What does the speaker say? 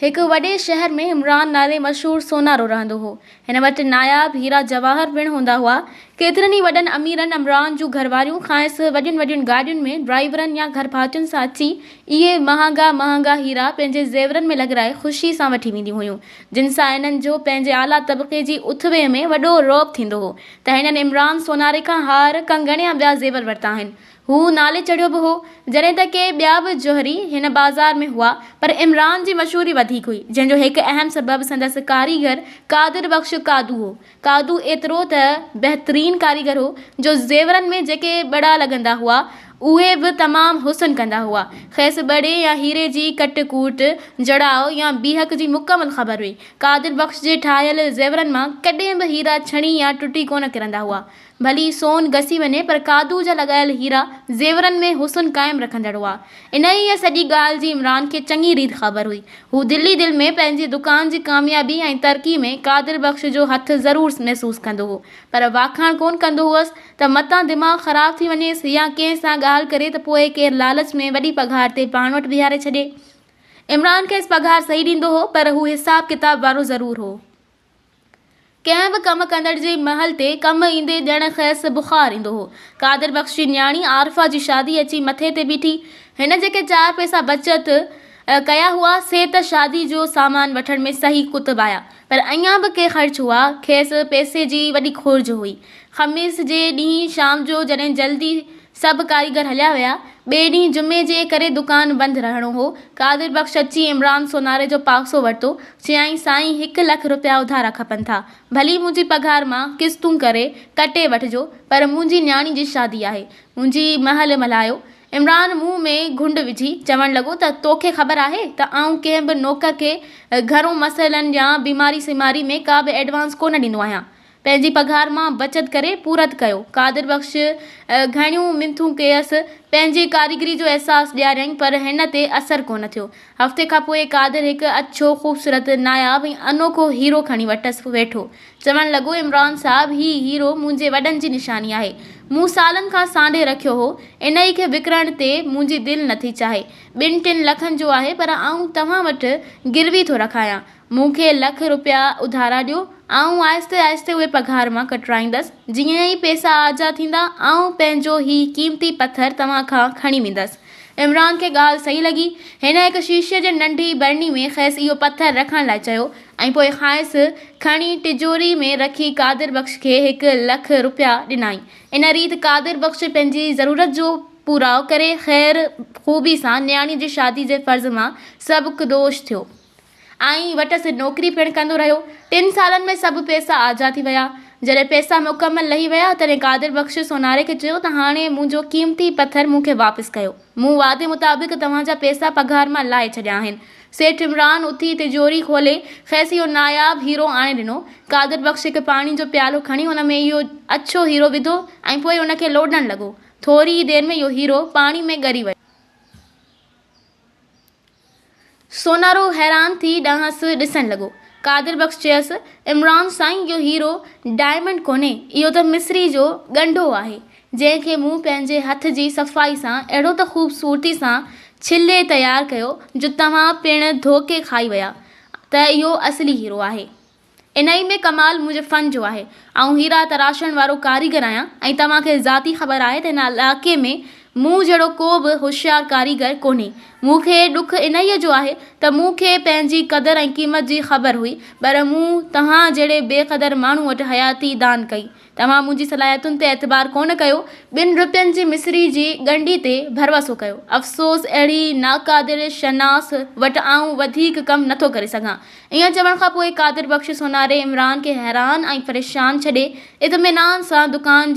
هڪ وڏي شهر ۾ عمران نالي مشهور سونارو رهندو هو. هن وٽ ناياب هيرا جواهر پڻ هوندا هئا. ڪيترن ئي وڏن اميرن عمران جون گهرواريون کانئس وڏين وڏين گاڏين ۾ ڊرائيورن يا گهرڀاتين سان اچي اهي مهانگا مهانگا هيرا پنهنجي زيورن ۾ لڳرائي خوشي سان وٺي وينديون هيون جن سان هنن جو پنهنجي اعليٰ طبقي جي اٿويء ۾ وڏو رعب ٿيندو هو ته هنن عمران سوناري کان هار، ڪنگڻ يا ٻيا زيور ورتا آهن. هو نالي چڙهيو به هو، جڏهن ته ڪي ٻيا به جوهري هن بازار ۾ هئا، پر عمران جي مشهوري وڌيڪ هئي، جنهن جو هڪ اهم سبب سندس ڪاريگر قادر بخش قادو هو. قادو ايترو ته بهترين ڪاريگر هو، جو زيورن ۾ جيڪي ٻڙا لڳندا هئا، اهي به تمام حسن ڪندا هئا. کيس ٻڙي يا هيري جي ڪٽ ڪوٽ، جڙاء يا بيهڪ جي مڪمل خبر هئي. قادر بخش جي ٺاهيل زيورن مان ڪڏهن به هيرا ڇڻي يا ٽٽي ڪونه ڪرندا هئا. ڀلي سون گسي وڃي پر قادو جا لڳايل هيرا زيورن ۾ حسن قائم رکندڙ هئا. انهيء سڄي ڳالهه جي عمران کي چڱي ريت خبر هئي. هو دل ئي دل ۾ پنهنجي دڪان جي ڪاميابي ۽ ترقي ۾ قادر بخش جو هٿ ضرور محسوس ڪندو هو پر واکاڻ ڪونه ڪندو هئس ته متان دماغ خراب ٿي وڃيس يا ڪنهن سان ڳالهه ڪري ته پوء ڪير لالچ ۾ وڏي پگهار تي پاڻ وٽ بيهاري ڇڏي. عمران کيس پگهار صحيح ڏيندو هو پر هو حساب ڪتاب وارو ضرور هو. ڪنهن به ڪم ڪندڙ جي مهل تي ڪم ايندي ڄڻ کيس بخار ايندو هو. قادر بخش جي نياڻي عارفه جي شادي اچي مٿي تي بيٺي. هن جيڪي چار پئسا بچت ڪيا هئا، سي ته شادي جو سامان وٺڻ ۾ صحيح ڪتبايا، پر اڃا به ڪي خرچ هئا. کيس پئسي جي وڏي کوڙج هئي. خميس جي ڏينهن شام جو جڏهن جلدي سڀ ڪاريگر هليا ويا. ٻئي ڏينهن جمعي جي ڪري دڪان بند رهڻو هو. قادر بخش اچي عمران سوناري جو پاڪسو ورتو. چيائين سائين هڪ لک رپيا اڌارا کپن ٿا. ڀلي منهنجي پگهار مان قسطون ڪري ڪٽي وٺجو پر منهنجي نياڻي جي شادي آهي. منهنجي مهل ملهايو. عمران منهن ۾ گهنڊ وجهي چوڻ لڳو ته توکي خبر آهي ته آئون ڪنهن به نوڪر کي گهرون مسئلن يا بيماري سيماري ۾ ڪا به ايڊوانس ڪونه ڏيندو آهيان. پنهنجي پگهار مان بچت ڪري پورت ڪيو. قادر بخش گهڻيون منٿون ڪيس، پنهنجي ڪاريگري جو احساس ڏياريائين پر هن تي اثر ڪونه ٿيو. هفتي کان پوء قادر هڪ اڇو، خوبصورت، ناياب ۽ انوکو هيرو کڻي وٽس ويٺو. چوڻ لڳو، عمران صاحب هي هيرو منهنجي وڏن جي نشاني آهي. مون سالن کان سانڍي رکيو هو. انهيء کي وڪڻڻ تي منهنجي دل نٿي چاهي. ٻن ٽن لکن جو آهي پر آئون توهان وٽ گروي ٿو رکايان. مون کي لک روپيا اڌارا ڏيو، آئون آهستي آهستي اهي پگهار مان ڪٽرائيندس، جيئن ئي پئسا آجا ٿيندا، آئون پنهنجو هي قيمتي پٿر توهان کان کڻي ويندس. عمران کي ڳالهه صحيح لڳي، هن هڪ شيشي جي ننڍي برني ۾ کيس اهو پٿر رکڻ لاء چيو ۽ پوء کانئس کڻي ٽجوري ۾ رکي قادر بخش کي هڪ لک روپيا ڏنائين. ان ريت قادر بخش پنهنجي ضرورت جو پوراء ڪري خير خوبي سان نياڻي جي شادي جي فرض مان سبڪدوش ٿيو. آئين وٽس نوڪري پڻ ڪندو رهيو. ٽن سالن ۾ سڀ پئسا آجا ٿي ويا. جڏهن پئسا مڪمل لهي ويا، تڏهن قادر بخش سوناري کي چيو ته هاڻي منهنجو قيمتي پٿر مون کي واپس ڪيو. مون وعدي مطابق توهان جا پئسا پگهار مان لاهي ڇڏيا آهن. سيٺ عمران اٿي تجوري کولي کيس اهو ناياب هيرو آڻي ڏنو. قادر بخش هڪ پاڻي جو پيالو کڻي ان ۾ اهو اڇو هيرو وڌو ۽ پوء ان کي لوڏڻ لڳو. ٿوري ئي دير ۾ اهو هيرو پاڻي ۾ ڳري ويو. سونارو حيران ٿي ڏانهس ڏسڻ لڳو. قادر بخش چيس، عمران سائين اهو هيرو ڊائمنڊ ڪونهي، اهو ته مصري جو ڳنڍو آهي، جنهن کي مون پنهنجي هٿ جي صفائي سان اهڙو ته خوبصورتي سان ڇلي تيار ڪيو جو توهان پڻ ڌوڪي کائي ويا ته اهو اصلي هيرو آهي. انهيء ۾ ڪمال منهنجي فن جو آهي. آئون هيرا تراشڻ وارو ڪاريگر آهيان ۽ توهان کي ذاتي خبر آهي ته هن علائقي ۾ مون جهڙو ڪو به هوشيار ڪاريگر ڪونهي. مون کي ڏک انهيء جو آهي ته مون کي پنهنجي قدر ۽ قيمت جي خبر هئي، پر مون توهان جهڙي بي قدر ماڻهو وٽ حياتي دان ڪئي. توهان منهنجي صلاحيتن تي اعتبار ڪونه ڪيو، ٻن روپين جي مصري جي ڳنڍي تي ڀروسو ڪيو. افسوس اهڙي ناقادر شناس وٽ آئون وڌيڪ ڪم نٿو ڪري سگهان. ائين چوڻ کان پوء قادر بخش سوناري عمران کي حيران ۽ پريشان ڇڏي اطمينان سان دڪان جي